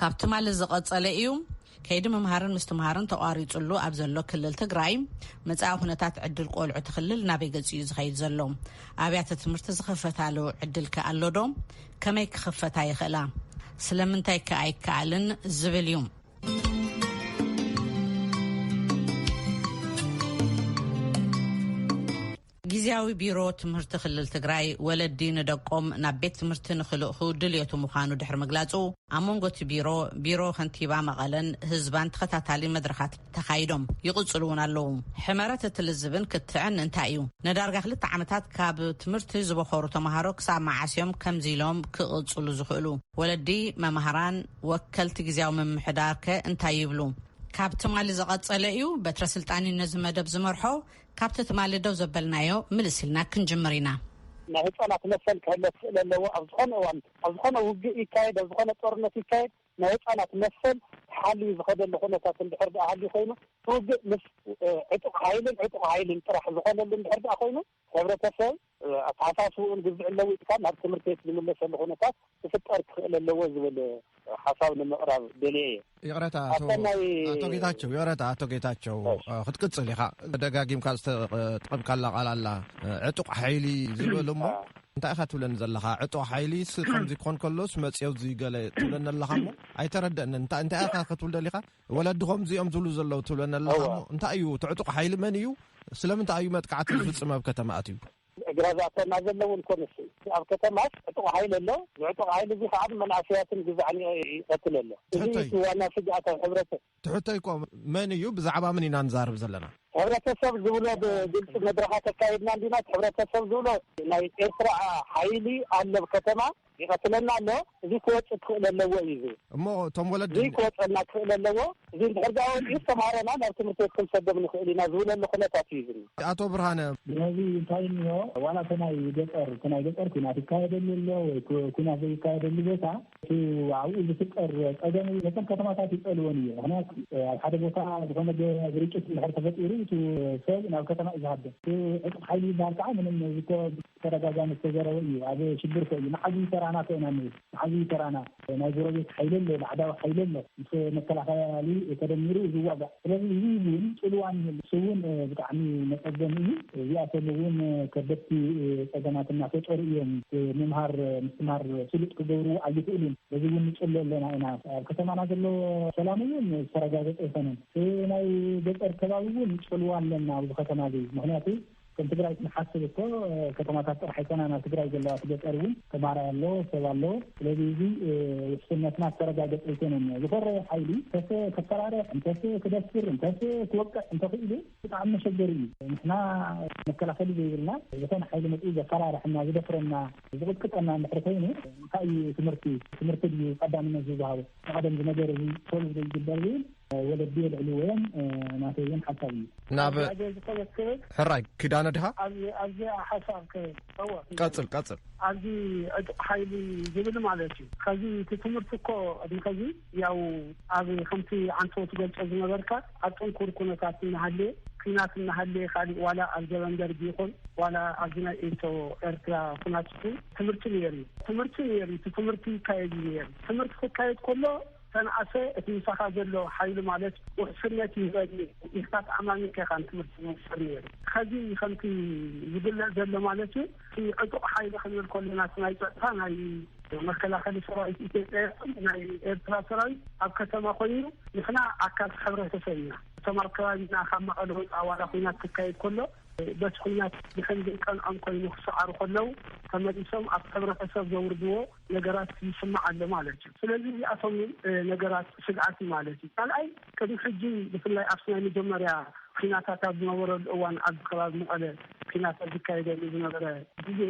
ካብ ትማሊ ዝቐፀለ ኢዩ። ከይዲ ምምሃርን ምስትምሃርን ተቋሪፁሉ ኣብ ዘሎ ክልል ትግራይ መፃኢ ኩነታት ዕድል ቆልዑ እቲ ክልል ናበይ ገፅ እዩ ዝኸይድ ዘሎ? ኣብያተ ትምህርቲ ዝኽፈታሉ ዕድል ከ ኣሎ ዶ? ከመይ ክኽፈታ ይኽእላ? ስለምንታይ ከ ኣይከኣልን? ዝብል እዩ። ጊዚያዊ ቢሮ ትምህርቲ ክልል ትግራይ ወለዲ ንደቆም ናብ ቤት ትምህርቲ ንክልእኹ ድልየቱ ምዃኑ ድሕሪ ምግላፁ ኣብ መንጎ እቲ ቢሮ፣ ቢሮ ከንቲባ መቐለን ህዝባን ተኸታታሊ መድረኻት ተኻይዶም ይቕፅሉ እውን ኣለዉ። ሕመረት እቲ ልዝብን ክትዕን እንታይ እዩ? ንዳርጋ ክልተ ዓመታት ካብ ትምህርቲ ዝበኾሩ ተምሃሮ ክሳብ መዓስ እዮም ከምዚ ኢሎም ክቕፅሉ ዝኽእሉ? ወለዲ፣ መማህራን፣ ወከልቲ ጊዚያዊ ምምሕዳር ከ እንታይ ይብሉ? ካብ ትማሊ ዝቐፀለ እዩ በትረ ስልጣን እዩ ነዚ መደብ ዝመርሖ። ካብቲ ትማሊ ደው ዘበልናዮ ምልስ ኢልና ክንጅምር ኢና። ናይ ህጻናት መሰል ክሕሎ ክኽእል ኣለዎ። ኣብ ዝኾነ እዋን፣ ኣብ ዝኾነ ውግእ ይካየድ፣ ኣብ ዝኾነ ጦርነት ይካየድ፣ ናይ ህጻናት መሰል ተሓልዩ ዝኸደሉ ኩነታት እንድሕር ድኣ ሃልዩ ኮይኑ፣ እቲ ውግእ ምስ ዕጡቕ ሓይልን ዕጡቕ ሓይልን ጥራሕ ዝኾነሉ እንድሕር ድኣ ኮይኑ፣ ሕብረተሰብ፣ ኣተሓሳስብኡን ግዝዕን ለዊጥካ ናብ ትምህርቲ ቤት ዝምለሰሉ ኩነታት ክፍጠር ክኽእል ኣለዎ ዝብል ሓሳብ ንምቕራብ ደልየ እየ። ይቕረታ ኣቶ ጌታቸው ይቕረታ ኣቶ ጌታቸው ክትቅፅል ኢኻ ደጋጊምካ ዝተጠቐምካላ ቃል ኣላ ዕጡቕ ሓይሊ ዝበል እሞ እንታይ ኢኻ ትብለኒ ዘለኻ ዕጡቅ ሓይሊ ስ ከምዚ ኮን ከሎስ መፅዮ ዝገለ ትብለኒ ኣለኻ እሞ ኣይተረደአንን እንታይ ኢኻ ክትብል ደሊኻ ወለዲ ከምዚኦም ዝብሉ ዘለዉ ትብለኒ ኣለካ ሞ እንታይ እዩ ትዕጡቕ ሓይሊ መን እዩ ስለምንታይ እዩ መጥቃዕቲ ዝፍፅም ኣብ ከተማ ኣትዩ እግራዛተና ዘለውን ኮንስ ኣብ ከተማስ ዕጡቕ ሓይሊ ኣሎ ዝዕጡቕ ሓይሊ እዚ ከዓ መናእሰያትን ግዛዕ ይቀትል ኣሎ እዚ ዋና ስግኣት ኣብ ሕብረተ ትሕቶይ ኮ መን እዩ ብዛዕባ ምን ኢና ንዛርብ ዘለና ሕብረተሰብ ዝብሎ ብግልፂ መድረኻት ኣካይድና እንዲና ሕብረተሰብ ዝብሎ ናይ ኤርትራ ሓይሊ ኣሎብ ከተማ ይቐትለና ኣሎ እዙይ ክወፅእ ክኽእለ ኣለዎ እዩ ዝብል እሞ እቶም ወለዲ እዙይ ክወፀና ክኽእለ ኣለዎ እዚ እንድሕር ዳኣ ወፅኡስ ተምሃሮና ናብ ትምህርቲ ቤት ክንሰዶም ንኽእል ኢና ዝብለሉ ኩነታት እዩ ዝኒ ኣቶ ብርሃነ ስለዚ እንታይ እኒኦ ዋላ እቲ ናይ ገጠር እቲ ናይ ገጠር ኩናት ይካየደሉ ኣሎ ወይ ኩናት ዘይካየደሉ ቦታ እቲ ኣብኡ ዝፍጠር ፀገም ነተን ከተማታት ይፀልወን እዩ ምክንያቱ ኣብ ሓደ ቦታ ዝኾነ ግርጭት እንድሕር ተፈጢሩ እቲ ሰብ ናብ ከተማ እዩ ዝሃደ እቲ ዕጡቕ ሓይሊ ይበሃል ከዓ ምንም ብተደጋጋሚ ዝተዘረበ እዩ ኣብ ሽግር ኮዩ መዓዝ እዩ ተራና ኮና ንብል መዓዝ እዩ ተራና ናይ ጎረቤት ሓይሊ ኣሎ ባዕዳዊ ሓይሊ ኣሎ ምስ መከላከያ ያሊ ተደሚሩ ዝዋጋእ ስለዚ እዚ ውን ጽልዋ ንህሉ እሱ ውን ብጣዕሚ መጸገሚ እዩ እዚኣቶም ውን ከበድቲ ጸገማት እናፈጠሩ እዮም እቲ ምምሃር ምስትምሃር ስሉጥ ክገብርዎ ኣይክእሉን በዚ ውን ንጽሎ ኣለና ኢና ኣብ ከተማና ዘሎ ሰላም ውን ዝተረጋገጸ ኣይኮነን እቲ ናይ ገጠር ከባቢ ውን ጽልዋ ኣለና ኣብዚ ከተማ እዚ ምክንያቱ ከም ትግራይ ክንሓስብ እኮ ከተማታት ጥራሕ ኣይኮናን ኣብ ትግራይ ዘለዋ እቲ ገጠር እውን ተምሃራይ ኣሎ ሰብ ኣሎ ስለዚ እዚ ውሕስነትና ዝተረጋገፀ ኣይኮነን እኒኦ ዝኮረየ ሓይሊ እንተሰ ክፈራረሕ እንተሰ ክደፍር እንተሰ ክወቅዕ እንተኽኢሉ ብጣዕሚ መሸገሪ እዩ ንሕና መከላኸሊ ዘይብልና ዝኾነ ሓይሊ መፅኡ ዘፈራርሐና ዝደፍረና ዝቕጥቅጠና እንድሕር ኮይኑ እንታይ እዩ ትምህርቲ ትምህርቲ ድዩ ቀዳምነት ዝወሃቦ ንቐደም ዝነገር እዚ ሶሉቭ ዘይግበር ዝብል ወለዲ የልዕልዎ'ዮም ናተይ ውን ሓሳብ እዩ። ናብ ኣደ ዝኸደት ክብል ሕራይ ኪዳነ ድሃ። ኣብ ኣብዚኣ ሓሳብ ክህብ እወ ቀጽል ቀጽል። ኣብዚ ዕጡቕ ሓይሊ ዝብል ማለት እዩ ኸዚ እቲ ትምህርቲ እኮ ቅድሚ ኸዚ ያው ኣብ ከምቲ ዓንተቦ ትገልጾ ዝነበርካ ኣብ ጥንኩር ኩነታት እናሃለየ ኩናት እናሃለየ ካሊእ ዋላ ኣብ ዘበን ደርጊ ይኹን ዋላ ኣብዚ ናይ ኤቶ ኤርትራ ኩናት ይኹን ትምህርቲ ነይሩ እዩ ትምህርቲ ነይሩ እቲ ትምህርቲ ይካየድ እዩ ነይሩ ትምህርቲ ክካየድ ከሎ ሰንዓፈ እቲ ምሳኻ ዘሎ ሓይሊ ማለት ውሕስነት ይህበኒ ኢልካ ተኣማሚንካ ኢኻ ንትምህርቲ ዝወሰድ ነይሩ። ኸዚ ከምቲ ዝግለጽ ዘሎ ማለት እዩ እቲ ዕጡቕ ሓይሊ ክንብል ከሎና እቲ ናይ ጸጥታ ናይ መከላኸሊ ሰራዊት ኢትዮጵያ ይኹን ናይ ኤርትራ ሰራዊት ኣብ ከተማ ኮይኑ ንሕና ኣካል ሕብረተሰብ ኢና። እቶም ኣብ ከባቢና ካብ መቐለ ወጻኢ ዋላ ኹናት ክካየድ ከሎ በቲ ኹናት ድሕን ዘይቀንዖም ኮይኑ ክሰዓሩ ከለው ተመሊሶም ኣብ ሕብረተሰብ ዘውርድዎ ነገራት ይስማዕ ኣሎ ማለት እዩ። ስለዚ እዚኣቶም እዮም ነገራት ስግኣት ማለት እዩ። ካልኣይ ቅድሚ ሕጂ ብፍላይ ኣብቲ ናይ መጀመርያ ኲናታት ኣብ ዝነበረሉ እዋን ኣብዚ ከባቢ መቐለ ኲናት ኣብ ዝካየደሉ ዝነበረ ግዜ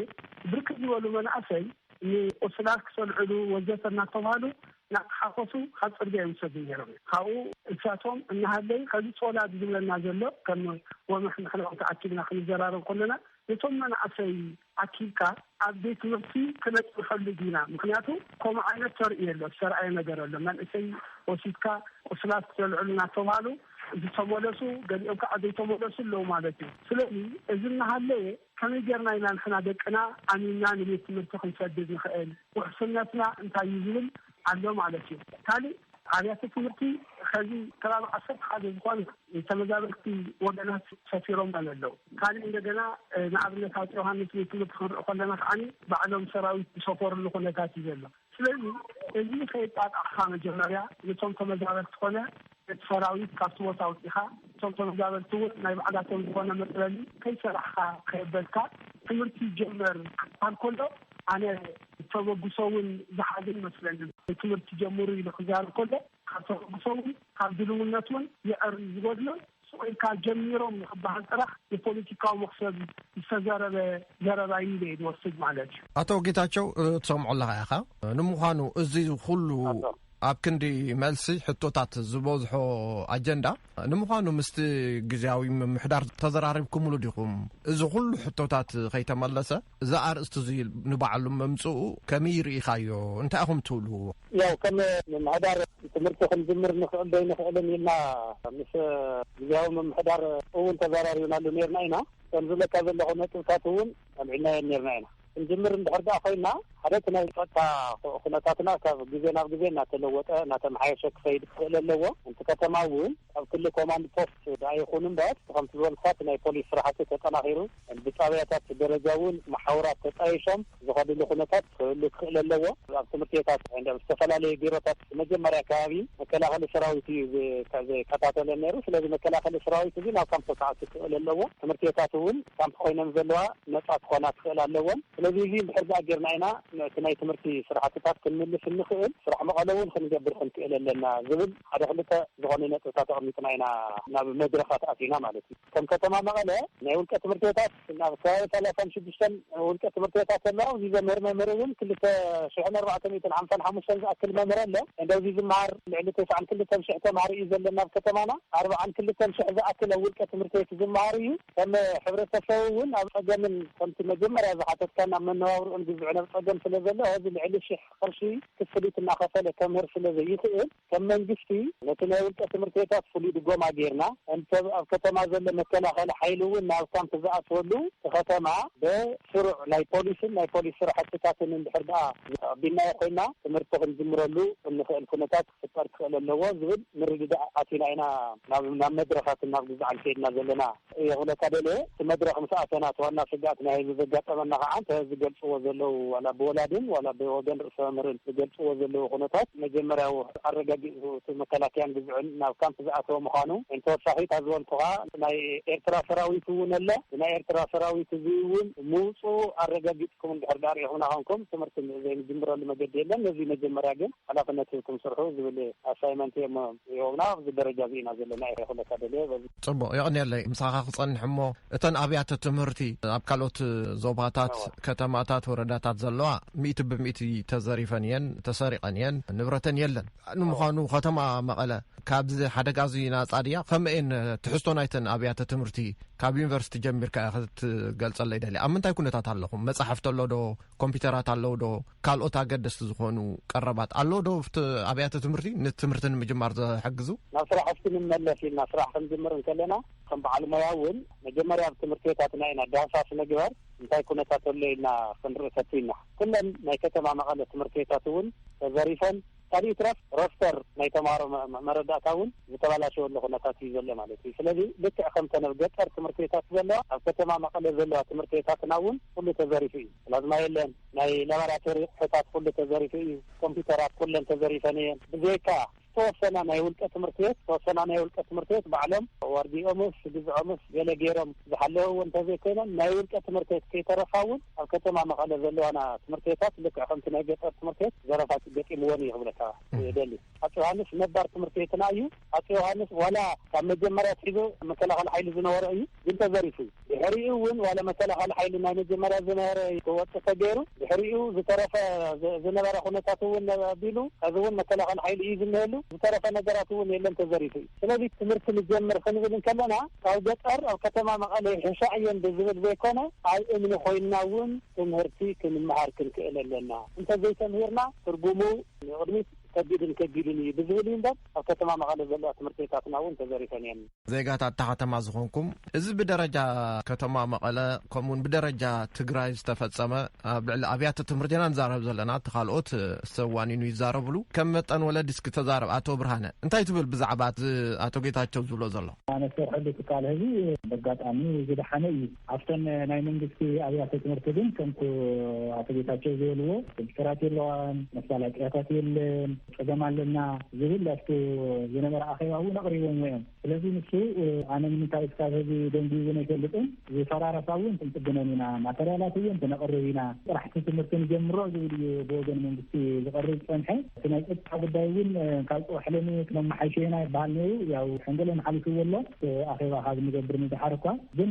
ብርክት ዝበሉ መናእሰይ ንቑስላት ክሰልዕሉ ወዘተ እናተብሃሉ እናተሓኮሱ ካብ ፅርግያ ይውሰዱ ነይሮም እዮም። ካብኡ እሳቶም እናሃለዩ ሕዚ ፆላድ ዝብለና ዘሎ ከም ወመሕ ንሕና እውን ተኣኪብና ክንዘራረብ ከሎና ነቶም መናእሰይ ኣኪብካ ኣብ ቤት ትምህርቲ ክነጽንሐሉ ዲና ምክንያቱ ኮምኡ ዓይነት ተርእዮ ኣሎ ዝተራእየ ነገር ኣሎ መንእሰይ ወሲድካ ቁስላት ዘልዕሉ ናተብሃሉ ዝተመለሱ ገሊኦም ካኣ ዘይተመለሱ ኣለው ማለት እዩ ስለዚ እዚ ናሃለወ ከመይ ጌርና ኢና ንሕና ደቅና ኣሚንና ንቤት ትምህርቲ ክንሰድድ ንክእል ውሕስነትና እንታይ እዩ ዝብል ኣሎ ማለት እዩ። ካሊእ ኣብያተ ትምህርቲ ኸዚ ከባቢ ዓሰርተ ሓደ ዝኾና ንተመዛበልቲ ወገናት ሰፊሮመን ኣለው። ካሊእ እንደገና ንኣብነት ኣፄ ዮሃንስ ቤት ትምህርቲ ክንርኢ ከለና ከዓ ባዕሎም ሰራዊት ዝሰፈርሉ ኩነታት እዩ ዘሎ። ስለዚ እዚ ከየጣጣሕኻ መጀመርያ ንቶም ተመዛበልቲ ኮነ እቲ ሰራዊት ካብቲ ቦታ ኣውጺኻ እቶም ተመዛበልቲ ውን ናይ ባዕላቶም ዝኾነ መጽለሊ ከይሰራሕኻ ከየበልካ ትምህርቲ ይጀመር ክብሃል ከሎ ኣነ ተበግሶ ውን ዝሓዘ ይመስለኒ ትምህርቲ ጀምሩ ኢሉ ክዛረብ ከሎ ካብ ተበግሶ ውን ካብ ድልውነት ውን የዕሪ ዝጎድሎን ሱቅ ኢልካ ጀሚሮም ንክብሃል ጥራሕ ንፖሊቲካዊ መኽሰብ ዝተዘረበ ዘረባ ኢዩ ኢለ ኢየ ዝወስድ ማለት ኢዩ። ኣቶ ጌታቸው ትሰምዖ ኣለኻ ኢኻ ንምዃኑ እዚ ኹሉ ኣብ ክንዲ መልሲ ሕቶታት ዝበዝሖ ኣጀንዳ፣ ንምዃኑ ምስቲ ግዝያዊ ምምሕዳር ተዘራሪብኩምሉ ዲኹም? እዚ ኩሉ ሕቶታት ከይተመለሰ እዚ ኣርእስቲ እዚ ንባዕሉ ምምጽኡ ከመይ ርኢኻዮ? እንታይ ኢኹም ትብሉ? ያው ከም ምምሕዳር ትምህርቲ ክንጅምር ንኽእል ዶ ኣይንኽእልን ኢልና ምስ ግዝያዊ ምምሕዳር እውን ተዘራሪብናሉ ኔርና ኢና። ከም ዝብለካ ዘለኹ ነጥብታት እውን ኣልዒልናየን ኔርና ኢና። ክንጅምር እንድሕር ድኣ ኮይና ሓደ እቲ ናይ ፀጥታ ኩነታትና ካብ ግዜ ናብ ግዜ እናተለወጠ እናተመሓየሸ ክኸይድ ክኽእል ኣለዎ። እቲ ከተማ እውን ኣብ ክሊ ኮማንድ ፖስት ድኣ ይኹን እምበር እቲ ከምቲ ዝበልኩኻ እቲ ናይ ፖሊስ ስራሕቲ ተጠናኺሩ ብጣብያታት ደረጃ እውን መሓውራት ተጣይሾም ዝኸድሉ ኩነታት ክህሉ ክኽእል ኣለዎ። ኣብ ትምህርቲ ቤታት እንዳ ኣብ ዝተፈላለዩ ቢሮታት ብመጀመርያ ከባቢ መከላኸሊ ሰራዊት እዩ ዝከታተለን ነይሩ። ስለዚ መከላኸሊ ሰራዊት እዚ ናብ ካምፕ ክኣቱ ክኽእል ኣለዎ። ትምህርቲ ቤታት እውን ካምፕ ኮይነን ዘለዋ ነጻ ክኾና ክኽእላ ኣለወን። ስለዚ እዚ እንድሕር ደኣ ጌርና ኢና ነቲ ናይ ትምህርቲ ስራሕትታት ክንምልስ እንኽእል፣ ስራሕ መቐሎ እውን ክንገብር ክንክእል ኣለና ዝብል ሓደ ክልተ ዝኾኑ ነጥብታት ኣቕሚጥና ኢና ናብ መድረኻት ኣቲና ማለት እዩ። ከም ከተማ መቐለ ናይ ውልቀ ትምህርቲ ቤታት ናብ ከባቢ ሰላሳን ሽዱሽተን ውልቀ ትምህርቲ ቤታት ኣለዋ። ኣብዚ ዘምህር መምህር እውን ክልተ ሽሕን ኣርባዕተ ሚእትን ሓምሳን ሓሙሽተን ዝኣክል መምህር ኣሎ። እንዶ ኣብዚ ዝመሃር ልዕሊ ተስዓን ክልተን ሽሕ ተምሃሮ እዩ ዘሎና ኣብ ከተማና። ኣርብዓን ክልተን ሽሕ ዝኣክል ኣብ ውልቀ ትምህርቲ ቤት ዝመሃር እዩ። ከም ሕብረተሰብ እውን ኣብ ፀገምን ከምቲ መጀመርያ ዝሓተትካኒ ኣብ መነባብርኡን ብዝዕነብ ፀገም ስለ ዘሎ ሀዚ ልዕሊ ሽሕ ቕርሺ ክፍሊት እናኸፈለ ከምህር ስለ ዘይኽእል ከም መንግስቲ ነቲ ናይ ውልቀ ትምህርት ቤታት ፍሉይ ድጎማ ገይርና እንተ ኣብ ከተማ ዘሎ መከላኸሊ ሓይሊ እውን ናብ ካምፕ ዝኣትወሉ ትኸተማ ብ ስሩዕ ናይ ፖሊስን ናይ ፖሊስ ስራሕትታትን እንድሕር ድኣ ኣቢልናዮ ኮይና ትምህርቲ ክንጅምረሉ እንኽእል ኩነታት ክፍጠር ክኽእል ኣለዎ ዝብል ምርድዳእ ኣቲና ኢና ናብ ናብ መድረኻት ናብ ግዝዓል ከይድና ዘለና እየ ክብለካ ደልየ። እቲ መድረኽ ምስ ኣተና እቲ ዋና ስግኣት ናይ ህዝቢ ዘጋጠመና ከዓ እንተ ዝገልፅዎ ዘለዉ ዋላ ብወላድን ዋላ ብወገን ርእሰ መምህርን ዝገልፅዎ ዘለዉ ኩነታት መጀመርያዊ ኣረጋጊፁ እቲ መከላከያን ግዝዕን ናብ ካምፕ ዝኣተወ ምዃኑ ን ተወሳኺ እታ ዝበልኩኻ ናይ ኤርትራ ሰራዊት እውን ኣለ ብናይ ኤርትራ ሰራዊት እዙይ እውን ምውፅኡ ኣረጋጊፅኩም እንድሕር ድኣ ሪኢኹምና ኮንኩም ትምህርቲ ዘይንጅምረሉ መገዲ የለን ነዙይ መጀመርያ ግን ሓላፍነት ሂብኩም ስርሑ ዝብል ኣሳይመንት እዮም ሂቦምና። ኣብዚ ደረጃ እዚ ኢና ዘለና ኢለ ክብለካ ደልየ። ጽቡቕ የቕንየለይ። ምሳኻ ክጸንሕ እሞ እተን ኣብያተ ትምህርቲ ኣብ ካልኦት ዞባታት፣ ከተማታት፣ ወረዳታት ዘለዋ ሚእቲ ብሚእቲ ተዘሪፈን እየን፣ ተሰሪቐን እየን፣ ንብረተን የለን። ንምዃኑ ከተማ መቐለ ካብዚ ሓደጋ እዚ ናጻ ድያ? ከመይ እየን ትሕዝቶ ናይተን ኣብያተ ትምህርቲ ካብ ዩኒቨርሲቲ ጀሚርካ ክትገልጸለይ ደልየ። ኣብ ምንታይ ኩነታት ኣለኹም? መጻሕፍቲ ኣሎ ዶ? ኮምፒዩተራት ኣለዉ ዶ? ካልኦት ኣገደስቲ ዝኾኑ ቀረባት ኣሎ ዶ ኣብቲ ኣብያተ ትምህርቲ ንትምህርቲ ንምጅማር ዝሕግዙ? ናብ ስራሕ እስኪ ንመለስ ኢልና ስራሕ ክንጅምር እንከለና ከም በዓል ሞያ እውን መጀመርያ ኣብ ትምህርቲ ቤታትና ኢና ዳህሳስ ምግባር እንታይ ኩነታት ኣሎ ኢልና ክንርኢ ፈቲና። ኩለን ናይ ከተማ መቐለ ትምህርቲ ቤታት እውን ተዘሪፈን ካልእ ይትረፍ ሮስተር ናይ ተማሃሮ መረዳእታ እውን ዝተባላሸወሉ ኩነታት እዩ ዘሎ ማለት እዩ። ስለዚ ልክዕ ከምተን ኣብ ገጠር ትምህርቲ ቤታት ዘለዋ ኣብ ከተማ መቐለ ዘለዋ ትምህርቲ ቤታትና እውን ኩሉ ተዘሪፉ እዩ። ፕላዝማ የለን፣ ናይ ላባራቶሪ ኣቑሑታት ኩሉ ተዘሪፉ እዩ፣ ኮምፒዩተራት ኩለን ተዘሪፈን እየን። ብዘይካ ዝተወሰና ናይ ውልቀ ትምህርቲ ቤት ዝተወሰና ናይ ውልቀ ትምህርቲ ቤት ባዕሎም ዋርድይኦምስ ግዝዖምስ ገለ ገይሮም፣ ዝሓለወ እውን እንተዘይኮይነን ናይ ውልቀ ትምህርቲ ቤት ከይተረፋ እውን ኣብ ከተማ መቐለ ዘለዋና ትምህርቲ ቤታት ልክዕ ከምቲ ናይ ገጠር ትምህርቲ ቤት ዘረፋ ገጢምወን እዩ ክብለካ እደሊ። ኣፄ ዮሃንስ ነባር ትምህርቲ ቤትና እዩ። ኣፄ ዮሃንስ ዋላ ካብ መጀመርያ ኣትሒዙ መከላኸሊ ሓይሊ ዝነበሮ እዩ፣ ግን ተዘሪፉ እዩ። ድሕሪኡ እውን ዋላ መከላኸሊ ሓይሊ ናይ መጀመርያ ዝነበረ ክወፅእ ተገይሩ፣ ድሕሪኡ ዝተረፈ ዝነበረ ኩነታት እውን ኣቢሉ ሕዚ እውን መከላኸሊ ሓይሊ እዩ ዝንሄሉ፣ ዝተረፈ ነገራት እውን የለን ተዘሪፉ እዩ። ስለዚ ትምህርቲ ንጀምር ክንብል እንከለና ካብ ገጠር ኣብ ከተማ መቐለ ይሕሻ'የን ብዝብል ዘይኮነ፣ ኣብ እምኒ ኮይንና እውን ትምህርቲ ክንመሃር ክንክእል ኣለና፣ እንተዘይተምሂርና ትርጉሙ ንቕድሚት ከቢድን ከቢድን እዩ ብዝብል እዩ እምበር ኣብ ከተማ መቐለ ዘለዋ ትምህርቲ ቤታትና እውን ተዘሪፈን እየን። ዜጋታት እታ ከተማ ዝኾንኩም፣ እዚ ብደረጃ ከተማ መቐለ ከምኡ እውን ብደረጃ ትግራይ ዝተፈፀመ ኣብ ልዕሊ ኣብያተ ትምህርቲ ኢና ንዛረብ ዘለና፣ እቲ ካልኦት ሰብ ዋኒኑ ይዛረብሉ፣ ከም መጠን ወለዲ እስኪ ተዛረብ፣ ኣቶ ብርሃነ እንታይ ትብል ብዛዕባ እዚ ኣቶ ጌታቸው ዝብሎ ዘሎ? ኣነ ዝሰርሐሉ ትካል ሐዚ በጋጣሚ ዝደሓነ እዩ። ኣብተን ናይ መንግስቲ ኣብያተ ትምህርቲ ግን ከምቱ ኣቶ ጌታቸው ዝበልዎ ኮምፒተራት የለዋን፣ መሳላጥያታት የለን፣ ፀገም ኣለና ዝብል ኣብቱ ዝነበረ ኣኼባ እውን ኣቕሪቦምዎ እዮም። ስለዚ ንሱ ኣነ ንምንታይ እስካብ ሐዚ ደንጉዩውን ኣይፈልጥን፣ ዝፈራረሳ እውን ክንፅግነን ኢና፣ ማተርያላት እውን ክነቕርብ ኢና፣ ጥራሕ እቲ ትምህርቲ ንጀምሮ ዝብል እዩ ብወገን መንግስቲ ዝቐርብ ዝፀንሐ። እቲ ናይ ፀጥታ ጉዳይ እውን ካብ ፅባሕ ሎሚ ክነመሓይሾ ኢና ይበሃል ነይሩ። ያው ሕንገለን ሓሊፍዎ ኣሎ ኣኼባ ካብ እንገብር ንደሓር እኳ። ግን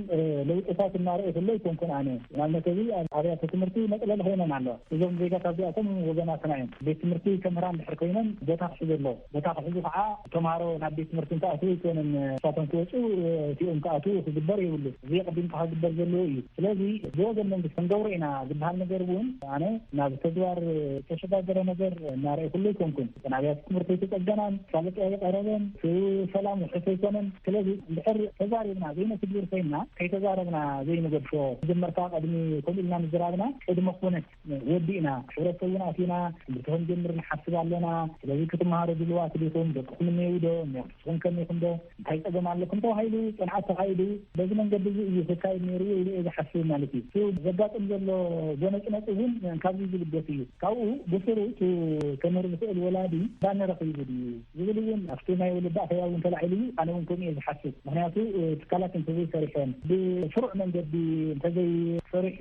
ለውጥታት እናርኣየ ከሎ ኣይኮንኩን ኣነ። ንኣብነት ሕዚ ኣብ ኣብያተ ትምህርቲ መፅለሊ ኮይነን ኣለዋ። እዞም ዜጋታት እዚኣቶም ወገናትና እዮም። ቤት ትምህርቲ ከምህራ እንድሕር ኮይነን ቦታ ክሕዙ ኣለዎም። ቦታ ክሕዙ ከዓ ተምሃሮ ናብ ቤት ትምህርቲ እንትኣትዉ ኣይኮነን ንሳቶም ክወፁ እቲኦም ክኣትዉ ክግበር የብሉን። እዚ ኣቐዲምካ ክግበር ዘለዎ እዩ። ስለዚ ብወገን መንግስቲ ክንገብሮ ኢና ዝበሃል ነገር እውን ኣነ ናብ ተግባር ዝተሸጋገረ ነገር እናረኣኹሉ ኣይኮንኩን። እተን ኣብያተ ትምህርቲ ኣይተፀገናን፣ መፋለጢ ኣይቐረበን፣ እቲ ሰላም ውሑስ ኣይኮነን። ስለዚ እንድሕር ተዛሪብና ዘይነትግብር ኮይንና ከይተዛረብና ዘይንገድፎ መጀመርታ ቅድሚ ከምኡ ኢልና ምዝራብና ቅድመ ኩነት ወዲእና ሕብረተሰብ እውን ኣቲና ትምህርቲ ከምጀምር ንሓስብ ኣሎና። ስለዚ ክትመሃሩ ድሉዋት ዲኹም? ደቅኹም እኔውዶ? ንስኹም ከመይ ኢኹም ዶ? እንታይ ጸገም ኣለኩም? ተባሂሉ ጽንዓት ተኻይዱ በዚ መንገዲ እዚ እዩ ክካየድ ነይርዎ ኢለ እየ ዝሓስብ ማለት እዩ። እቲ ዘጋጥም ዘሎ ጎነጽነጽ እውን ካብዚ ዝብገስ እዩ። ካብኡ ብስሩ እቲ ከምህር ዝኽእል ወላዲ ባኒ ረኺቡ ድዩ? ዝብል እውን ኣብቲ ናይ ወለዲ ኣኼባ እውን ተላዒሉ እዩ። ኣነ እውን ከምኡ እየ ዝሓስብ። ምኽንያቱ ትካላት እንተዘይሰሪሐን፣ ብስሩዕ መንገዲ እንተዘይተሰሪሑ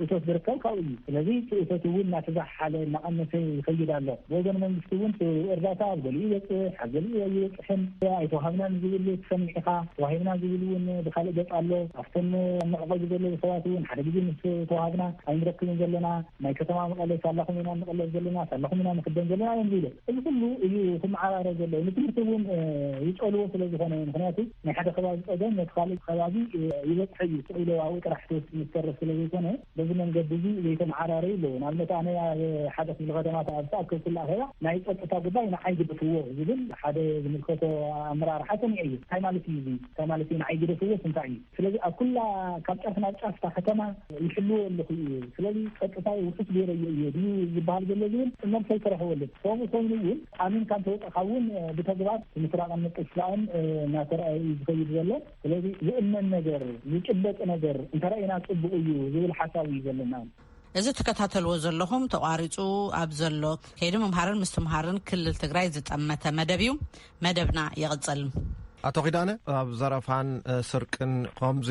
እቶት ዝርከብ ካብኡ እዩ። ስለዚ እቲ እቶት እውን እናተዛሓሓለ እናቐነሰ ይኸይድ ኣሎ። ብወገን መንግስቲ እውን እቲ እርዳታ ኣብ ገሊኡ ይበፅሕ ኣብ ገሊኡ ኣይበፅሕን። ኣይተዋሃብናን ዝብል ትሰምዕ ኢኻ። ተዋሂብና ዝብል እውን ብካልእ ገፅ ኣሎ። ኣብቶም ኣብ መዕቖቢ ዘለዉ ሰባት እውን ሓደ ግዜ ምስ ተዋሃብና ኣይንረክብን ዘለና። ናይ ከተማ መቐለ ሳላኹም ኢና እንቐለብ ዘለና፣ ሳላኹም ኢና ንኽደን ዘለና እዮም ዝብሉ። እዚ ኩሉ እዩ ክመዓራረ ዘለዎ። ንትምህርቲ እውን ይጸልዎ ስለ ዝኾነ እዩ። ምኽንያቱ ናይ ሓደ ከባቢ ጸገም ነቲ ካልእ ከባቢ ይበጽሖ እዩ። ስቕ ኢሉ ኣብኡ ጥራሕ ተወሲኑ ዝተርፍ ስለ ዘይኮነ በዚ መንገዲ እዚ ዘይተመዓራረዩ ኣለዉ። ንኣብነት ኣነ ኣብ ሓደ ክፍሊ ከተማ ኣብ ዝተኣከብኩሉ ኣኼባ ናይ ጸጥታ ጉዳይ ንዓይ ግደፍዎ ዝብል ሓደ ዝምልከቶ ኣመራርሓ ሰሚዐ እየ። እንታይ ማለት እዩ እዚ? እንታይ ማለት እዩ ንዓይ ግደፍዎስ እንታይ እዩ? ስለዚ ኣብ ኩላ ካብ ጫፍ ናብ ጫፍ እታ ከተማ ይሕልዎ ኣለኹ እየ፣ ስለዚ ጸጥታይ ውሑስ ገይረዮ እየ ድዩ ዝበሃል ዘሎ ዝብል መልሲ ኣይተረኸበሉን። ከምኡ ኮይኑ እውን ኣሚንካ እንተወጸእካ እውን ብተግባር ምስራቕን ምጥፍፋእን እናተርኣየ እዩ ዝኸይድ ዘሎ። ስለዚ ዝእመን ነገር፣ ዝጭበጥ ነገር እንተርኣና ጽቡቕ እዩ ዝብል ሓሳብ እዩ ዘለና። እዚ ትከታተልዎ ዘለኹም ተቋሪፁ ኣብ ዘሎ ከይዲ ምምሃርን ምስትምሃርን ክልል ትግራይ ዝጠመተ መደብ እዩ። መደብና ይቕፅል። ኣቶ ኪዳነ ኣብ ዘረፋን ስርቅን ከምዚ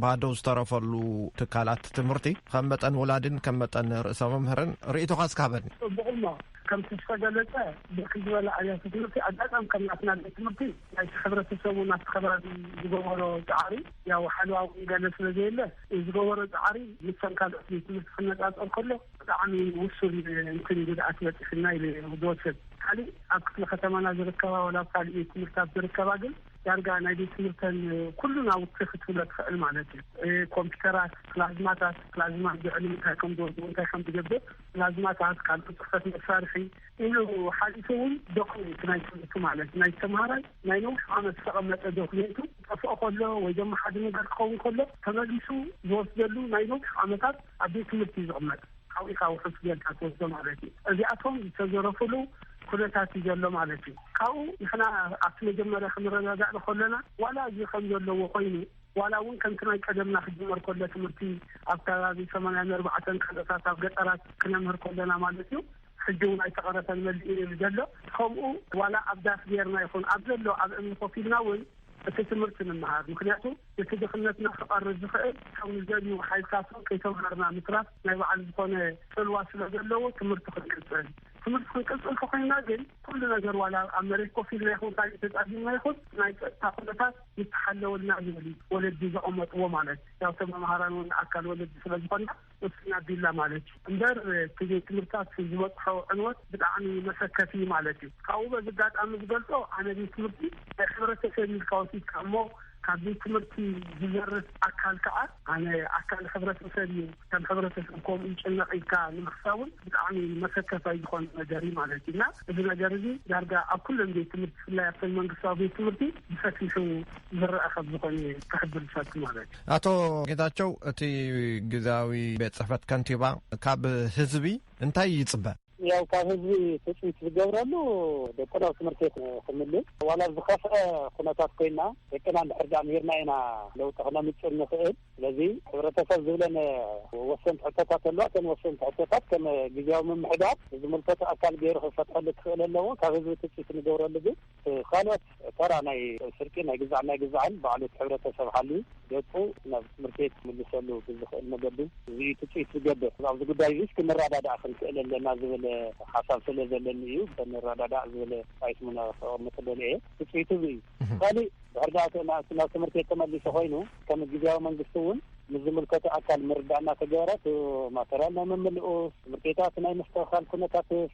ባዶ ዝተረፈሉ ትካላት ትምህርቲ ከም መጠን ወላድን ከም መጠን ርእሰ መምህርን ርእቶኻ እስካ ሃበኒ ፅቡቕሞ ከምቲ ዝተገለፀ ብርክ ዝበለ ኣብያተ ትምህርቲ ኣጋጣሚ ከም ናትና ቤት ትምህርቲ ናይቲ ሕብረተሰቡ ናብቲ ከባቢ ዝገበሮ ፃዕሪ ያው ሓለዋ እውን ገለ ስለዘየለ ንዝገበሮ ጻዕሪ ምስተን ካልኦት ቤት ትምህርቲ ክነጻጸር ከሎ ብጣዕሚ ውሱን እንትን ጉድኣት በጺሑና ኢሉ እዩ ዝወስድ። ካሊእ ኣብ ክፍለ ከተማና ዝርከባ ወላ ኣብ ካሊእ ቤት ትምህርታት ዝርከባ ግን ዳርጋ ናይ ቤት ትምህርተን ኩሉ ናውቲ ክትብሎ ትኽእል ማለት እዩ። ኮምፒተራት፣ ፕላዝማታት፣ ፕላዝማ ልዕሊ ምንታይ ከምዝወድኡ እንታይ ከምዝገብር፣ ፕላዝማታት፣ ካልኦት ጽሕፈት መሳርሒ፣ ኢሉ ሓሊፉ እውን ዶክሜንት ናይ ትምህርቱ ማለት ናይቲ ተምሃራይ ናይ ነዊሕ ዓመት ዝተቐመጠ ዶክሜንቱ ክጠፍኦ ከሎ ወይ ደማ ሓደ ነገር ክኸውን ከሎ ተመሊሱ ዝወስደሉ ናይ ነዊሕ ዓመታት ኣብ ቤት ትምህርቲ እዩ ዝቕመጥ ሓዊኻ ውሑስ ጌርካ ትወስዶ ማለት እዩ እዚኣቶም ዝተዘረፉሉ ኩነታት እዩ ዘሎ ማለት እዩ ካብኡ ንሕና ኣብቲ መጀመርያ ክንረጋጋእ ንከሎና ዋላ እዚ ከም ዘለዎ ኮይኑ ዋላ እውን ከምቲ ናይ ቀደምና ክጅመር ከሎ ትምህርቲ ኣብ ከባቢ ሰማንያን ኣርባዕተን ካልኦታት ኣብ ገጠራት ክነምህር ከሎና ማለት እዩ ሕጂ እውን ኣይተቐረፈን መሊኡ እዩ ዘሎ። ከምኡ ዋላ ኣብ ዳስ ገይርና ይኹን ኣብ ዘሎ ኣብ እምኒ ኮፍ ኢልና እውን እቲ ትምህርቲ ንምሃር። ምኽንያቱ ነቲ ድኽነትና ክቐርፍ ዝኽእል እቶም ንዘልዉ ሓይልታት እውን ከይተማሃርና ምትራፍ ናይ ባዕሉ ዝኾነ ጽልዋ ስለ ዘለዎ ትምህርቲ ክንቅጽል። ትምህርቲ ክንቅጽል ተኾይንና ግን ኩሉ ነገር ዋላ ኣብ መሬት ኮፍ ኢልና ይኹን ካሊእ ተጻጊምና ይኹን ናይ ጸጥታ ኩነታት ምስ ተሓለወልና ዝብል እዩ። ወለዲ ዘቐመጥዎ ማለት ያው ተመማሃራን እውን ኣካል ወለዲ ስለ ዝኾንና። ቁስልና ቢላ ማለት እዩ እምበር እቲ ትምህርትታት ዝበፅሖ ዕንወት ብጣዕሚ መሰከፊ እዩ ማለት እዩ። ካብኡ በዚ ኣጋጣሚ ዝገልፆ ኣነ ቤት ትምህርቲ ናይ ሕብረተሰብ ኢልካ ወሲድካ እሞ ካብ ቤት ትምህርቲ ዝዘርፍ ኣካል ከዓ ኣነ ኣካል ሕብረተሰብ እዩ ከም ሕብረተሰብ ከምኡ ይጭነቕ ኢልካ ንምሕሳብ እውን ብጣዕሚ መሰከፋይ ዝኾነ ነገር እዩ ማለት እዩ እና እዚ ነገር እዚ ዳርጋ ኣብ ኩለን ቤት ትምህርቲ ብፍላይ ኣብተን መንግስታዊ ቤት ትምህርቲ ብሰፊሑ ዝረኣ ከም ዝኾነ ክሕብር ዝፈቱ ማለት እዩ። ኣቶ ጌታቸው እቲ ግዜያዊ ቤት ፅሕፈት ከንቲባ ካብ ህዝቢ እንታይ ይፅበ? ያው ካብ ህዝቢ ትፅቢት ዝገብረሉ ደቅና ኣብ ትምህርቲ ቤት ክምልስ ዋላ ዝኸፍዐ ኩነታት ኮይና ደቅና እንድሕር ዳኣ ምሂርና ኢና ለውጢ ክነምፅእ ንኽእል ስለዚ ሕብረተሰብ ዝብለን ወሰንቲ ሕቶታት ኣለዋ እተን ወሰንቲ ሕቶታት ከም ግዜያዊ ምምሕዳር ዝምልከቱ ኣካል ገይሩ ክፈትሐሉ ክኽእል ኣለዎ ካብ ህዝቢ ትፅቢት ንገብረሉ ግን እቲ ካልኦት ተራ ናይ ስርቂ ናይ ግዛዕን ናይ ግዛዕን ባዕሉ እቲ ሕብረተሰብ ሓልዩ ደቁ ናብ ትምህርቲ ቤት ክምልሰሉ ብዝኽእል መገዲ እዚ እዩ ትፅቢት ዝገብር። ኣብዚ ጉዳይ እዚስ ክንረዳዳእ ክንክእል ኣለና ዝብል ሓሳብ ስለ ዘለኒ እዩ ንረዳዳእ ዝብል ራይት ሙነ ከቐምጥ ደልየ እየ። ትፅቢቱ እዚ እዩ። እቲ ካሊእ ድሕሪ ደኣ እቲ ናብ ትምህርቲ ቤት ተመሊሱ ኮይኑ ከም ግዝያዊ መንግስቲ እውን ምስ ዝምልከቶ ኣካል ምርድዳእ እናተገበረ እቲ ማተርያል ናይ ምምልኡስ፣ ትምህርቲ ቤታት ናይ ምስትኽኻል ኩነታትስ፣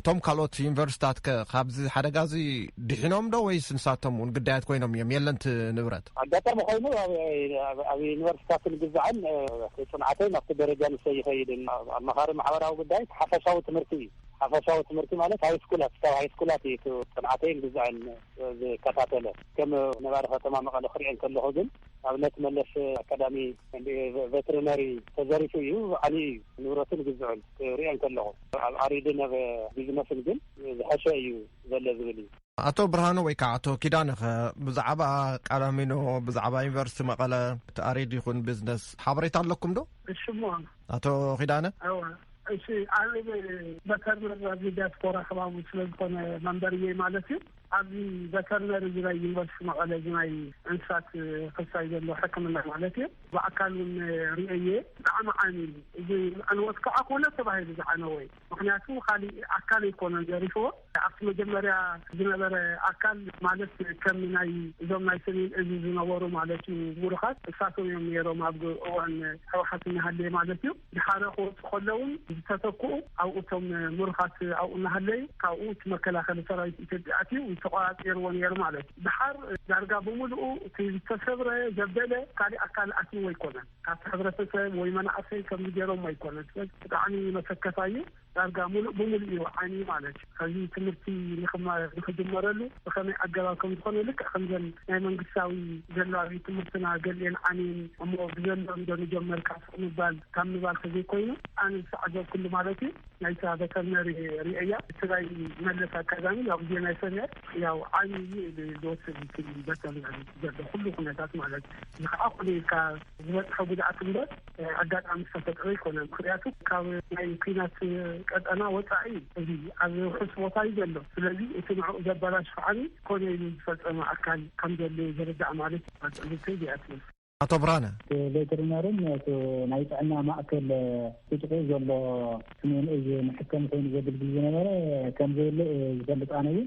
እቶም ካልኦት ዩኒቨርስታት ከ ካብዚ ሓደጋ እዚ ድሒኖም ዶ ወይስ ንሳቶም እውን ግዳያት ኮይኖም እዮም የለንት ንብረት ኣጋጣሚ ኮይኑ ኣብ ዩኒቨርስታት ንግዛዕን ፅንዓተይ ናብቲ ደረጃ ንሰ ይኸይድ ኣብ መኻሪ ማሕበራዊ ጉዳይ ሓፈሻዊ ትምህርቲ እዩ ሓፈሻዊ ትምህርቲ ማለት ሃይ ስኩላት ካብ ሃይ ስኩላት እዩ ፅንዓተይን ግዛዕን ዝከታተለ ከም ነባሪ ከተማ መቐለ ክሪኦ ከለኩ ግን ኣብነት መለስ ኣካዳሚ ቨትርነሪ ተዘሪፉ እዩ ዓንዩ እዩ ንብረቱን ግዝዑን ክሪኦ እንከለኹ ኣብ ዓሪድን ኣብ ቢዝነስን ግን ዝሐሸ እዩ ዘሎ ዝብል እዩ። ኣቶ ብርሃኑ ወይ ከዓ ኣቶ ኪዳነ ከ ብዛዕባ ቃላሚኖ ብዛዕባ ዩኒቨርሲቲ መቐለ እቲ ኣሪድ ይኹን ቢዝነስ ሓበሬታ ኣለኩም ዶ? እሽሞ ኣቶ ኪዳነ እሺ ኣብ መተርነር ዲያስፖራ ከባቢ ስለዝኾነ መንበርየይ ማለት እዩ ኣብዚ ቨተርነሪ እዚ ናይ ዩኒቨርሲቲ መቐለ እዚ ናይ እንስሳት ሕርሻ ዘሎ ሕክምና ማለት እዩ ብኣካል እውን ርእየዮ እየ ብጣዕሚ ዓንዩ እዩ እዚ ዕንወት ከዓ ኮነ ተባሂሉ ዝዓነወ እዩ ምኽንያቱ ካሊእ ኣካል ኣይኮነን ዘሪፍዎ ኣብቲ መጀመርያ ዝነበረ ኣካል ማለት ከም ናይ እዞም ናይ ሰሜን እዚ ዝነበሩ ማለት እዩ ሙሩኻት እሳቶም እዮም ነይሮም ኣብ እዋን ህወሓት እናሃለየ ማለት እዩ ድሓረ ክወጹ ከለዉን ዝተተክኡ ኣብ እቶም ምሩኻት ኣብኡ እናሃለዩ ካብኡ እቲ መከላኸሊ ሰራዊት ኢትዮጵያ ኣትዩ ምስ ተቖጻጺርዎ ነይሩ ማለት እዩ። ድሓር ዳርጋ ብምሉኡ እቲ ዝተሰብረ ዘበለ ካሊእ ኣካል ኣትይዎ ኣይኮነን ካብቲ ሕብረተሰብ ወይ መናእሰይ ከምዚ ገይሮሞ ኣይኮነን ስለዚ ብጣዕሚ መሰከፋይ እዩ። ዳርጋ ሙሉእ ብሙሉእ እዩ ዓንዩ ማለት እዩ። ኸዚ ትምህርቲ ንኽማረ ንኽጅመረሉ ብኸመይ ኣገባብ ከም ዝኾነ ልክዕ ከምዘን ናይ መንግስታዊ ዘሎ ኣብዩት ትምህርትና ገሊኤን ዓንየን እሞ ብዘሎ እንዶ ንጀመር ካብ ስቕ ምባል ካብ ምባል ተዘይኮይኑ ኣነ ዝተዓዘብኩሉ ማለት እዩ ናይታ ቨተርነሪ ሪኤያ እቲ ናይ መለስ ኣካዳሚ ያው ብዜና ይሰምዐ ያው ዓንዩ እዩ ኢሉ ዝወስድ እቲ ቨተርነሪ ዘሎ ኩሉ ኩነታት ማለት እዚ ኸዓ ኮነ ኢልካ ዝበፅሖ ጉድኣት እምበር ኣጋጣሚ ዝተፈጥረ ኣይኮነን። ምክንያቱ ካብ ናይ ኩናት ቀጠና ወፃኢ እዩ። እዚ ኣብ ውሑስ ቦታ እዩ ዘሎ። ስለዚ እቲ ንዕኡ ዘበላሽ ኸዓኒ ኮነ ኢሉ ዝፈፀመ ኣካል ከም ዘሎ እዩ ዝርዳእ ማለት እዩ። ኣብ ፅርግተይ እዚኣ ትብል። ኣቶ ብርሃነ። እቲ ቬተሪናርን እቲ ናይ ጥዕና ማእከል እቲ ጥቅኡ ዘሎ ስሜን እዝ መሐከሚ ኮይኑ ዘግልግል ዝነበረ ከም ዘየለ እዩ ዝፈልጥ። ኣነ ግን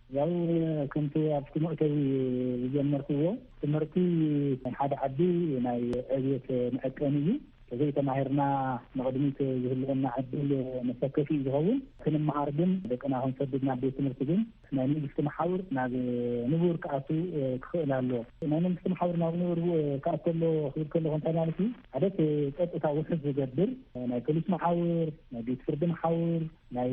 ያው ከምቲ ኣብቲ መእተዊ ዝጀመርክዎ ትምህርቲ ናይ ሓደ ዓዲ ናይ ዕብየት መዐቀኒ እዩ። ተዘይተማሂርና ንቕድሚት ዝህልወና ዕድል መሰከፊ እዩ ዝኸውን። ክንመሃር ግን ደቅና ክንሰድድ ናብ ቤት ትምህርቲ ግን ናይ መንግስቲ መሓውር ናብ ንቡር ክኣቱ ክኽእል ኣሎ። ናይ መንግስቲ መሓውር ናብ ንቡር ክኣቱ ኣሎ ክብል ከለኹ እንታይ ማለት እዩ? ሓደ እቲ ጸጥታ ውሑስ ዝገብር ናይ ፖሊስ መሓውር፣ ናይ ቤት ፍርዲ መሓውር፣ ናይ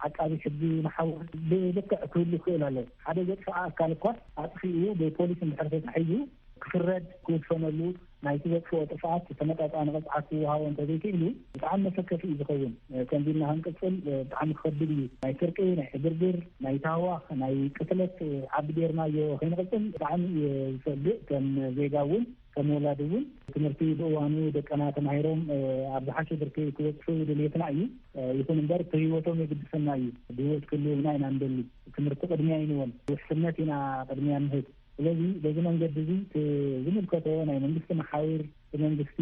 ዓቃቢ ሕጊ መሓውር ብልክዕ ክህሉ ይኽእል ኣሎ። ሓደ ዘጥፍኣ ኣካል እኳ ኣጥፊኡ ብፖሊስ እንድሕር ተታሒዙ ክፍረድ ክውሰነሉ ናይቲ ዘጥፍኦ ጥፍኣት ተመጣጣኒ ቅፅዓት ክወሃቦ እንተዘይክኢሉ ብጣዕሚ መሰከፊ እዩ ዝኸውን። ከምዚ ኢልና ክንቅፅል ብጣዕሚ ክኸብድ እዩ። ናይ ስርቂ፣ ናይ ዕግርግር፣ ናይ ታህዋኽ፣ ናይ ቅትለት ዓዲ ገይርናዮ ከይንቕፅል ብጣዕሚ እየ ዝሰግእ ከም ዜጋ እውን። ከም ወላዲ እውን ትምህርቲ ብእዋኑ ደቀና ተማሂሮም ኣብ ዝሓሸ ብርኪ ክበፅሑ ድልየትና እዩ። ይኹን እምበር ብህይወቶም የግድሰና እዩ። ብህይወት ክህልዉልና ኢና ንደሊ። ትምህርቲ ቅድሚያ ኣይንበል። ውሕስነት ኢና ቅድሚያ ንህብ። ስለዚ በዚ መንገዲ እዚ እቲ ዝምልከቶ ናይ መንግስቲ መሓውር ብመንግስቲ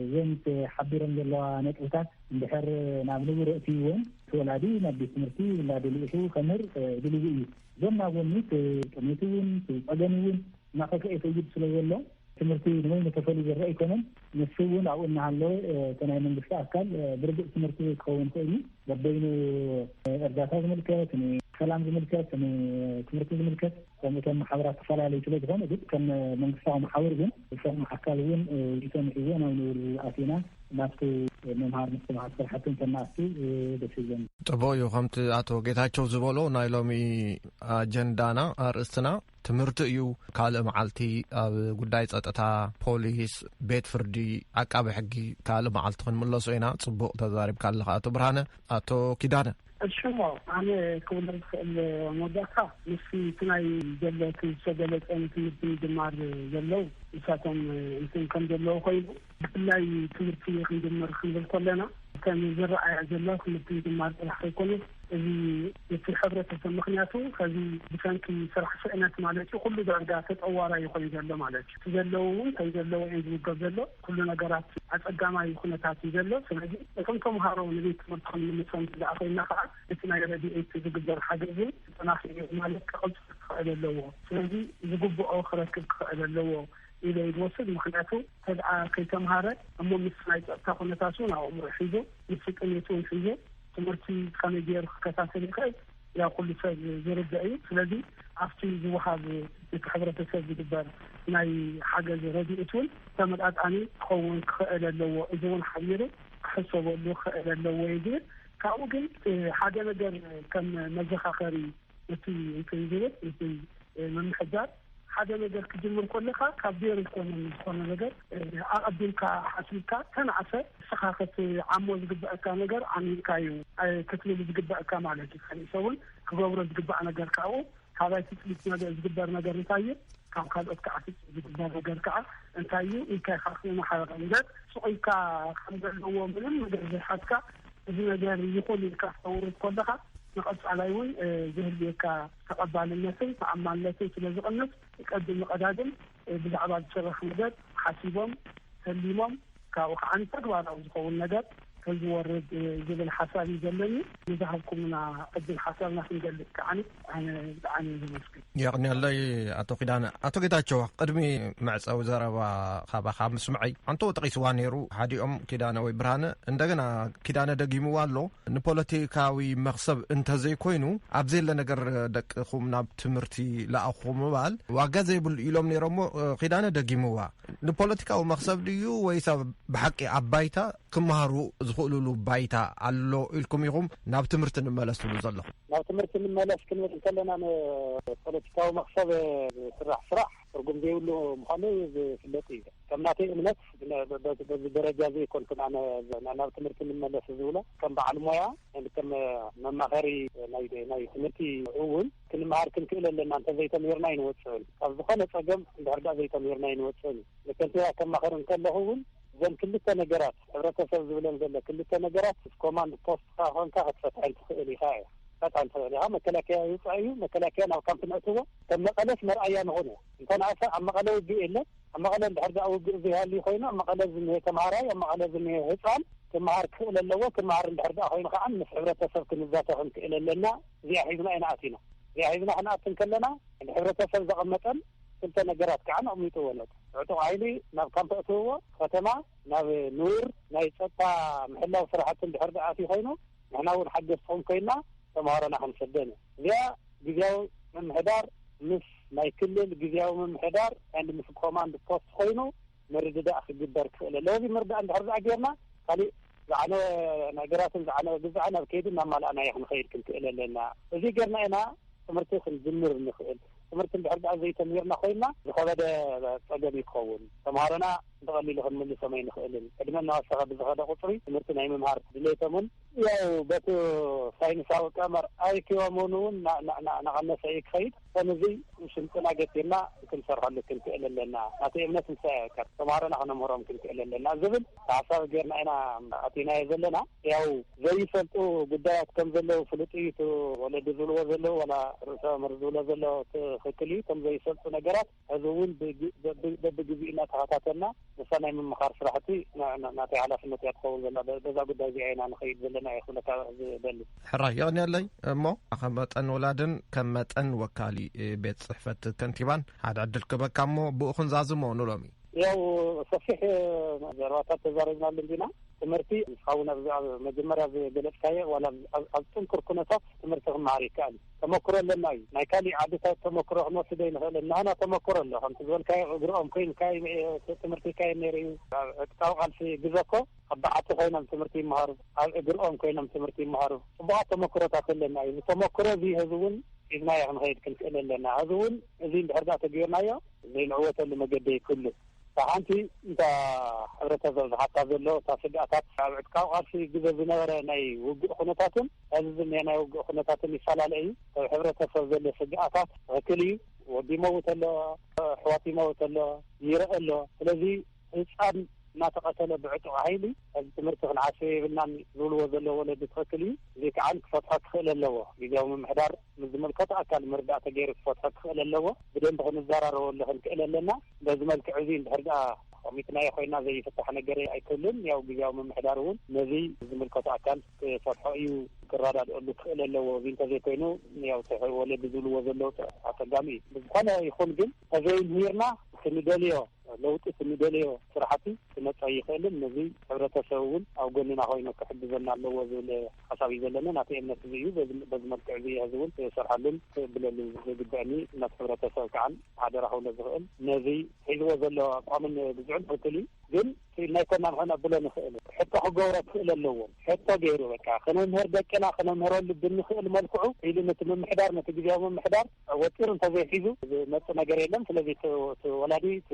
እዘን ተሓቢረን ዘለዋ ነጥብታት እንድሕር ናብ ንቡር ኣእትይወን እቲ ወላዲ ናብ ቤት ትምህርቲ ውላዱ ልኢኹ ከምህር ድልዊ እዩ። ጎን ናብ ጎኒ እቲ ጥሜት እውን እቲ ፀገም እውን እናኸፍኤ ይኸይድ ስለ ዘሎ ትምህርቲ ንበይኑ ተፈልዩ ዝረኣ ኣይኮነን። ንሱ እውን ኣብኡ እናሃለወ እቲ ናይ መንግስቲ ኣካል ብርግፅ ትምህርቲ ዘይክኸውን ይኽእል እዩ በበይኑ እርዳታ ዝምልከት፣ ንሰላም ዝምልከት፣ ንትምህርቲ ዝምልከት ከምኡ እቶም ማሕበራት ዝተፈላለዩ ስለ ዝኾኑ ግን ከም መንግስታዊ መሓውር ግን ከም ኣካል እውን ሪኢቶ ንሒዘ ናብ ንቡር ኣቲና ናብቲ ምምሃር ምስትምሃር ስራሕቲ እንተናኣቱ ደስ ይብለኒ። ጽቡቕ እዩ ከምቲ ኣቶ ጌታቸው ዝበሎ ናይ ሎሚ ኣጀንዳና ኣርእስትና ትምህርቲ እዩ ካልእ መዓልቲ ኣብ ጉዳይ ጸጥታ ፖሊስ ቤት ፍርዲ ዓቃቢ ሕጊ ካልእ መዓልቲ ክንምለሶ ኢና ጽቡቕ ተዛሪብካ ኣለኻ ኣቶ ብርሃነ ኣቶ ኪዳነ እሺ'ሞ ኣነ ክብሎ ዝኽእል መወዳእታ ምስቲ እቲ ናይ ዘሎ እቲ ዝተገለጸ ንትምህርቲ ምጅማር ዘለው ንሳቶም እንትን ከም ዘለው ኮይኑ ብፍላይ ትምህርቲ ክንጅምር ክንብል ከሎና እተን ዝረኣያ ዘለዋ ትምህርቲ ምጅማር ጥራሕ ከይኮነት እዚ እቲ ሕብረተሰብ ምኽንያቱ ኸዚ ብሰንኪ ስራሕ ስእነት ማለት እዩ ኩሉ ዳርጋ ተጸዋራዩ ኮይኑ ዘሎ ማለት እዩ እቲ ዘለው እውን ከም ዘለው እየን ዝውገብ ዘሎ ኩሉ ነገራት ኣጸጋማይ ኩነታት እዩ ዘሎ። ስለዚ እቶም ተምሃሮ ንቤት ትምህርቲ ክንምልሶም እንተደኣ ኮይንና ከኣ እቲ ናይ ረዲኤት ዝግበር ሓገዝ እውን ተጠናኺሩ ማለት ክቕጽል ክኸእል ኣለዎ። ስለዚ ዝግብኦ ክረክብ ክኸእል ኣለዎ ኢለ እየ ዝወስድ። ምክንያቱ እንተደኣ ከይተምሃረ እሞ ምስ ናይ ጸጥታ ኩነታት እውን ኣብ ኣእምሮኡ ሒዙ ምስ ጥሜት እውን ሒዙ ትምህርቲ ከመይ ገይሩ ክከታተል ይኸእል? ያው ኩሉ ሰብ ዝርደእ እዩ ስለዚ ኣብቲ ዝወሃብ ነቲ ሕብረተሰብ ዝግበር ናይ ሓገዝ ረዲኤት ውን ተመጣጣኒ ክኸውን ክኸእል ኣለዎ እዚ ውን ሓቢሩ ክሕሰበሉ ክኸእል ኣለዎ እየ ዝብል ካብኡ ግን ሓደ ነገር ከም መዘኻኸሪ እቲ እንትን ዝብል እቲ ምምሕዳር ሓደ ነገር ክጅምር ኮለካ ካብ ዜሮ ኣይኮነን ዝኮነ ነገር ኣቀዲምካ ሓሲብካ ከናዕሰ ንስካ ክትዓሞ ዝግበእካ ነገር ዓሚምካ እዩ ክትብል ዝግበእካ ማለት እዩ ካሊእ ሰብ ውን ክገብሮ ዝግባእ ነገር ካብኡ ካባይ ትፅቢት ነገር ዝግበር ነገር እንታይ እዩ ካብ ካልኦት ከዓ ትፅቢት ዝግበር ነገር ከዓ እንታይ እዩ ኢልካ ኢካ ክትመሓረር እምበር ሱቅ ኢልካ ከም ዘለዎ ምንም ነገር ዘይሓዝካ እዚ ነገር ይኩን ኢልካ ክተውርድ ኮለካ ንቀፃላይ ውን ዘህልየካ ተቐባልነትን ተኣማንነትን ስለ ዝቕንስ፣ ቀድም ንቐዳድም ብዛዕባ ዝስራሕ ነገር ሓሲቦም ተሊሞም ካብኡ ከኣ ንተግባራዊ ዝኸውን ነገር ተዝወርድ ዝብል ሓሳብ እዩ ዘለኒ። ንዝሃብኩምና ዕድል ሓሳብና ክንገልጽ ከኣ ኣነ ብጣዕሚ እየ ዘመስግን። የቕንየለይ ኣቶ ኪዳነ። ኣቶ ጌታቸው ቅድሚ መዕጸዊ ዘረባ ካባኻ ምስምዐይ ኣንቶ ጠቒስዋ ነይሩ ሓዲኦም ኪዳነ ወይ ብርሃነ እንደገና ኪዳነ ደጊምዋ ኣሎ ንፖለቲካዊ መኽሰብ እንተዘይኮይኑ ኣብ ዘየለ ነገር ደቅኹም ናብ ትምህርቲ ለኣኹ ምባል ዋጋ ዘይብሉ ኢሎም ነይሮሞ ኪዳነ ደጊምዋ ንፖለቲካዊ መኽሰብ ድዩ ወይስ ብሓቂ ኣብ ባይታ ክምሃሩ ዝኽእልሉ ባይታ ኣሎ ኢልኩም ኢኹም ናብ ትምህርቲ ንመለስ ትብሉ ዘለኹም ናብ ትምህርቲ ንመለስ ክንብል ከለና ንፖለቲካዊ መኽሰብ ዝስራሕ ስራሕ ትርጉም ዘይብሉ ምዃኑ ዝፍለጥ እዩ። ከም ናተይ እምነት በዚ ደረጃ እዚ ኣይኮንኩን ኣነ ናብ ትምህርቲ ንመለስ ዝብሎ። ከም በዓል ሞያ ከም መማኸሪ ናይ ትምህርቲ እውን ክንመሃር ክንክእል ኣለና። እንተዘይተምሂርና ኣይንወፅእን ካብ ዝኾነ ፀገም እንድሕር ድኣ ዘይተምሂርና ኣይንወፅእን እዩ። ንከንቲባ ከማኽር እንከለኹ እውን እዘን ክልተ ነገራት ሕብረተሰብ ዝብለን ዘሎ ክልተ ነገራት ምስ ኮማንድ ፖስትካ ኮንካ ክትፈትሐን ትኽእል ኢኻ እየ። ክትፈትሐን ትኽእል ኢኻ። መከላከያ ይውፃእ እዩ። መከላከያ ናብ ካምፕ ነእትዎ። ሰብ መቐለስ መርኣያ ንኹን እያ። እንተንኣሰ ኣብ መቐለ ውግእ የለን። ኣብ መቐለ እንድሕር ደኣ ውግእ ዘይሃልዩ ኮይኑ ኣብ መቐለ ዝንሄ ተምሃራይ፣ ኣብ መቐለ ዝንሄ ህጻን ክመሃር ክኽእል ኣለዎ። ክመሃር እንድሕር ደኣ ኮይኑ ከኣ ምስ ሕብረተሰብ ክንዛተ ክንክእል ኣለና። እዚኣ ሒዝና ኢና ኣቲና። እዚኣ ሒዝና ክንኣቲ እንከለና እቲ ሕብረተሰብ ዘቐመጠን ክልተ ነገራት ከኣ ኣቕሚጥወን ኣሎ። ዕጡቕ ሓይሊ ናብ ካምፕ ኣእትውዎ፣ ከተማ ናብ ንቡር ናይ ጸጥታ ምሕላው ስራሕቲ እንድሕር ደኣ ኣትዩ ኮይኑ፣ ንሕና እውን ሓገዝትኹም ኮይና ተምሃሮና ክንሰደን ኢና። እዚኣ ግዝያዊ ምምሕዳር ምስ ናይ ክልል ግዝያዊ ምምሕዳር and ምስ ኮማንድ ፖስት ኮይኑ ምርድዳእ ክግበር ክኽእል ኣለዎ። እዚ ምርድዳእ እንድሕር ድኣ ጌርና ካሊእ ዝዓነወ ነገራትን ዝዓነወ ግዝኣን ኣብ ከይዲ እናማላእናዮ ክንኸይድ ክንክእል ኣለና። እዚ ጌርና ኢና ትምህርቲ ክንጅምር እንኽእል። ትምህርቲ እንድሕር ድኣ ዘይተምሂርና ኮይና ዝኸበደ ፀገም እዩ ክኸውን። ተምሃሮና ብቐሊሉ ክንምልሶም ኣይንኽእልን። ዕድመ እናወሰኸ ብዝኸደ ቁጽሪ፣ ትምህርቲ ናይ ምምሃር ድሌቶምን፣ ያው በቲ ሳይንሳዊ ቀመር ኣይክዮምን እውን ናቐነሰ እዩ ክኸይድ፣ እቶም እዚ ስልጥና ገቲርና ክንሰርሐሉ ክንክእል ኣለና፣ ናተይ እምነት ንሳ እያ በቃ፣ ተምሃሮና ክነምህሮም ክንክእል ኣለና ዝብል ተሓሳቢ ጌርና ኢና ኣእቲናዮ ዘለና፣ ያው ዘይፈልጡ ጉዳያት ከም ዘለዉ ፍሉጥ እዩ፣ እቲ ወለዲ ዝብልዎ ዘለዉ ዋላ ርእሰ መምህር ዝብሎ ዘሎ ትኽክል እዩ፣ እቶም ዘይፈልጡ ነገራት። ሕዚ እውን በብግዚኡ እናተኸታተልና ምስታ ናይ ምምኻር ስራሕቲ ናተይ ሓላፍነት እያ ትኸውን ዘላ። በዛ ጉዳይ እዚኣ ኢና ንኸይድ ዘለና እየ ክብለካ ዝደሊ። ሕራይ የቕንየለይ። እሞ ከም መጠን ወላድን ከም መጠን ወካሊ ቤት ፅሕፈት ከንቲባን ሓደ ዕድል ክህበካ እሞ ብኡ ክንዛዝሞ ንሎሚ ያው ሰፊሕ ዘረባታት ተዛሪብናሉ እንዲና ትምህርቲ ንስኻ እውን መጀመርያ ዝገለፅካዮ ዋላ ኣብ ጥንኩር ኩነታት ትምህርቲ ክመሃር ይከኣል እዩ ተመክሮ ኣለና እዩ ናይ ካሊእ ዓድታት ተመክሮ ክንወስድ ኣይንክእልን ናህና ተመክሮ ኣሎ ከምቲ ዝበልካዮ እግሪ ኦም ኮይንካ ትምህርቲ ይካየድ ነይሩ እዩ ኣብ ዕጥቃዊ ቃልሲ ግዘ እኮ ኣብ በዓቲ ኮይኖም ትምህርቲ ይመሃሩ ኣብ እግሪ ኦም ኮይኖም ትምህርቲ ይመሃሩ ፅቡቃት ተመክሮታት ኣለና እዩ እዚ ተመክሮ እዚ ህዚ እውን ሒዝናዮ ክንከይድ ክንክእል ኣለና ህዚ እውን እዚ እንድሕር ዳኣ ተገይርናዮ ዘይንዕወተሉ መገዲ ኣይክህሉን እታ ሓንቲ እታ ሕብረተሰብ ዝሓታ ዘሎ እታ ስግኣታት ኣብ ዕጥቃዊ ቃልሲ ግዘ ዝነበረ ናይ ውግእ ኩነታትን ሐዚ ዝኒሀ ናይ ውግእ ኩነታትን ይፈላለ እዩ። ኣብ ሕብረተሰብ ዘሎ ስግኣታት ትኽክል እዩ ወዲ ይመውት ኣሎ፣ ኣሕዋት ይመውት ኣሎ፣ ይረእ ኣሎ ስለዚ ህፃን እናተቐተለ ብዕጡቕ ሃይሊ ሐዚ ትምህርቲ ክንዓስዮ የብልናን ዝብልዎ ዘለዉ ወለዲ ትኽክል እዩ። እዙይ ከዓ ክፈትሖ ክኽእል ኣለዎ ግዝያዊ ምምሕዳር። ንዝምልከቶ ኣካል ምርዳእ ተገይሩ ክፈትሖ ክኽእል ኣለዎ። ብደንቢ ክንዘራረበሉ ክንክእል ኣለና። በዚ መልክዕ እዚ እንድሕር ደኣ ቐሚጥናዮ ኮይና ዘይፍታሕ ነገር ኣይክህሉን። ያው ግዝያዊ ምምሕዳር እውን ነዚ ዝምልከቶ ኣካል ክፈትሖ እዩ፣ ክረዳድኣሉ ክኽእል ኣለዎ። እዚ እንተዘይኮይኑ ያው እቲ ወለዲ ዝብልዎ ዘለዉ ኣጸጋሚ እዩ። ብዝኾነ ይኹን ግን ተዘይምህርና ክንደልዮ ለውጢ እቲ ንደልዮ ስራሕቲ ክመፅ ኣይኽእልን። ነዚ ሕብረተሰብ እውን ኣብ ጎንና ኮይኑ ክሕግዘና ኣለዎ ዝብል ሓሳብ እዩ ዘለኒ። ናተይ እምነት እዚ እዩ። በዚ መልክዕ እዚ እየ ሕዚ እውን ክሰርሐሉን ክእብለሉን ዝግበእኒ። ነቲ ሕብረተሰብ ከዓ ሓደራ ክብሎ ዝኽእል ነዚ ሒዝዎ ዘሎ ኣቋምን ግዝዑን ትኽክል እዩ። ግን እቲ ኢልና ኣይኮናን ከነብሎ ንኽእል። ሕቶ ክገብሮ ክኽእል ኣለዎ። ሕቶ ገይሩ በቃ ክነምህር ደቅና ክነምህረሉ ብንኽእል መልክዑ ኢሉ ነቲ ምምሕዳር ነቲ ግዝያዊ ምምሕዳር ወጢሩ እንተዘይሒዙ ዝመጽእ ነገር የለን። ስለዚ እቲ እቲ ወላዲ እቲ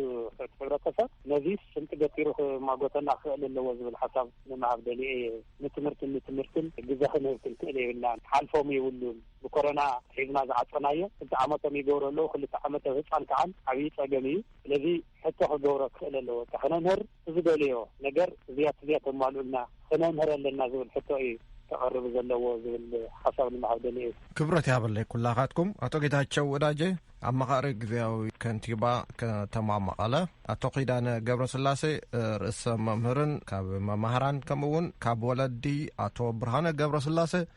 ሕብረተሰብ ነዚ ስልቲ ገቲሩ ክማጎተና ክኽእል ኣለዎ ዝብል ሓሳብ ንምሃብ ደልየ እየ። ንትምህርትን ንትምህርትን ግዘ ክንህብ ክንክእል የብልናን። ክሓልፎም የብሉን። ብኮረና ሒዝና ዝዓጸናዮ ክልተ ዓመቶም ይገብሩ ኣለዉ። ክልተ ዓመት ኣብ ህጻን ክዓን ዓብዪ ጸገም እዩ። ስለዚ ሕቶ ክገብሮ ክኽእል ኣለዎ። እታ ክነምህር ብዝደለዮ ነገር እዚያ ትዚያ ተማልኡልና ክነምህር ኣለና ዝብል ሕቶ እዩ ከቐርብ ዘለዎ ዝብል ሓሳብ ንምሃብ ደልየ እዩ። ክብረት ይሃበለይ ኩላኻትኩም። ኣቶ ጌታቸው ወዳጀ ኣማኻሪ ግዝያዊ ከንቲባ ከተማ መቐለ፣ ኣቶ ኪዳነ ገብረስላሴ ርእሰ መምህርን ካብ መማህራን ከምኡ እውን ካብ ወለዲ ኣቶ ብርሃነ ገብረስላሴ፣